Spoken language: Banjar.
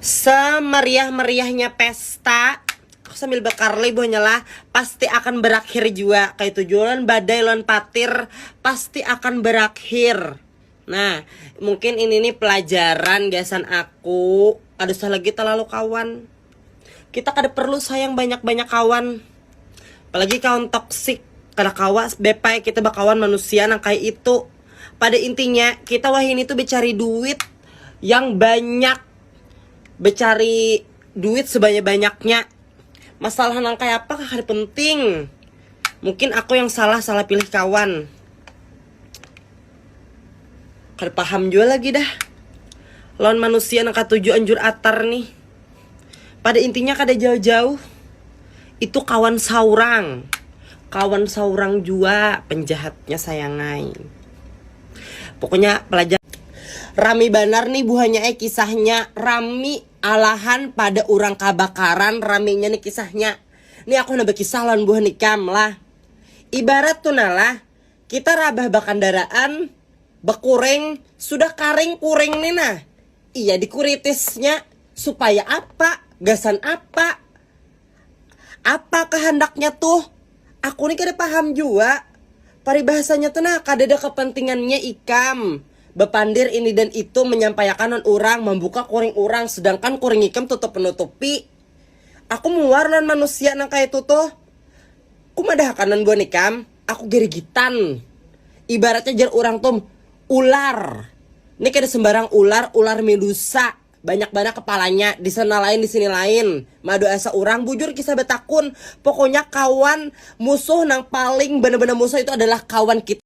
semeriah-meriahnya pesta aku sambil bekarli buahnya lah pasti akan berakhir jua kayak itu jualan badai lawan patir pasti akan berakhir nah mungkin ini nih pelajaran gasan aku ada usah lagi terlalu kawan kita kada perlu sayang banyak-banyak kawan apalagi kawan toksik kada kawas bepai kita bakawan manusia nang kayak itu pada intinya kita wahini tuh becari duit yang banyak becari duit sebanyak-banyaknya masalah nang kaya apa kakak penting mungkin aku yang salah salah pilih kawan kada paham jua lagi dah lawan manusia nang katuju anjur atar nih Pada intinya kada jauh-jauh itu kawan saurang. Kawan saurang jua penjahatnya sayangai. Pokoknya pelajar Rami banar nih buhanya eh kisahnya. Rami alahan pada orang kabakaran raminya nih kisahnya. Nih aku handak bakisah lawan buhan ikam lah. Ibarat tuh nah lah. Kita rabah bakandaraan, bakuring, sudah karing kuring ni nah. Iya dikuritisnya, supaya apa, gasan apa. Apa kahandaknya tuh? Aku ni kada paham jua. Paribahasanya tu nah kadada kapantingannya ikam bapandir ini dan itu manyampaiakan lawan urang, mambuka kuring urang, sedangkan kuring ikam tutup manutupi. Aku muar lawan manusia nang kaya itu tuh. Kumadahakan lawan buhan ikam. aku girigitan ibaratnya jar urang tum ular ini kada sembarang ular ular medusa banyak banar kepalanya di sana lain di sini lain madu asa urang bujur kisah batakun pokoknya kawan musuh nang paling banar-banar musuh itu adalah kawan kita.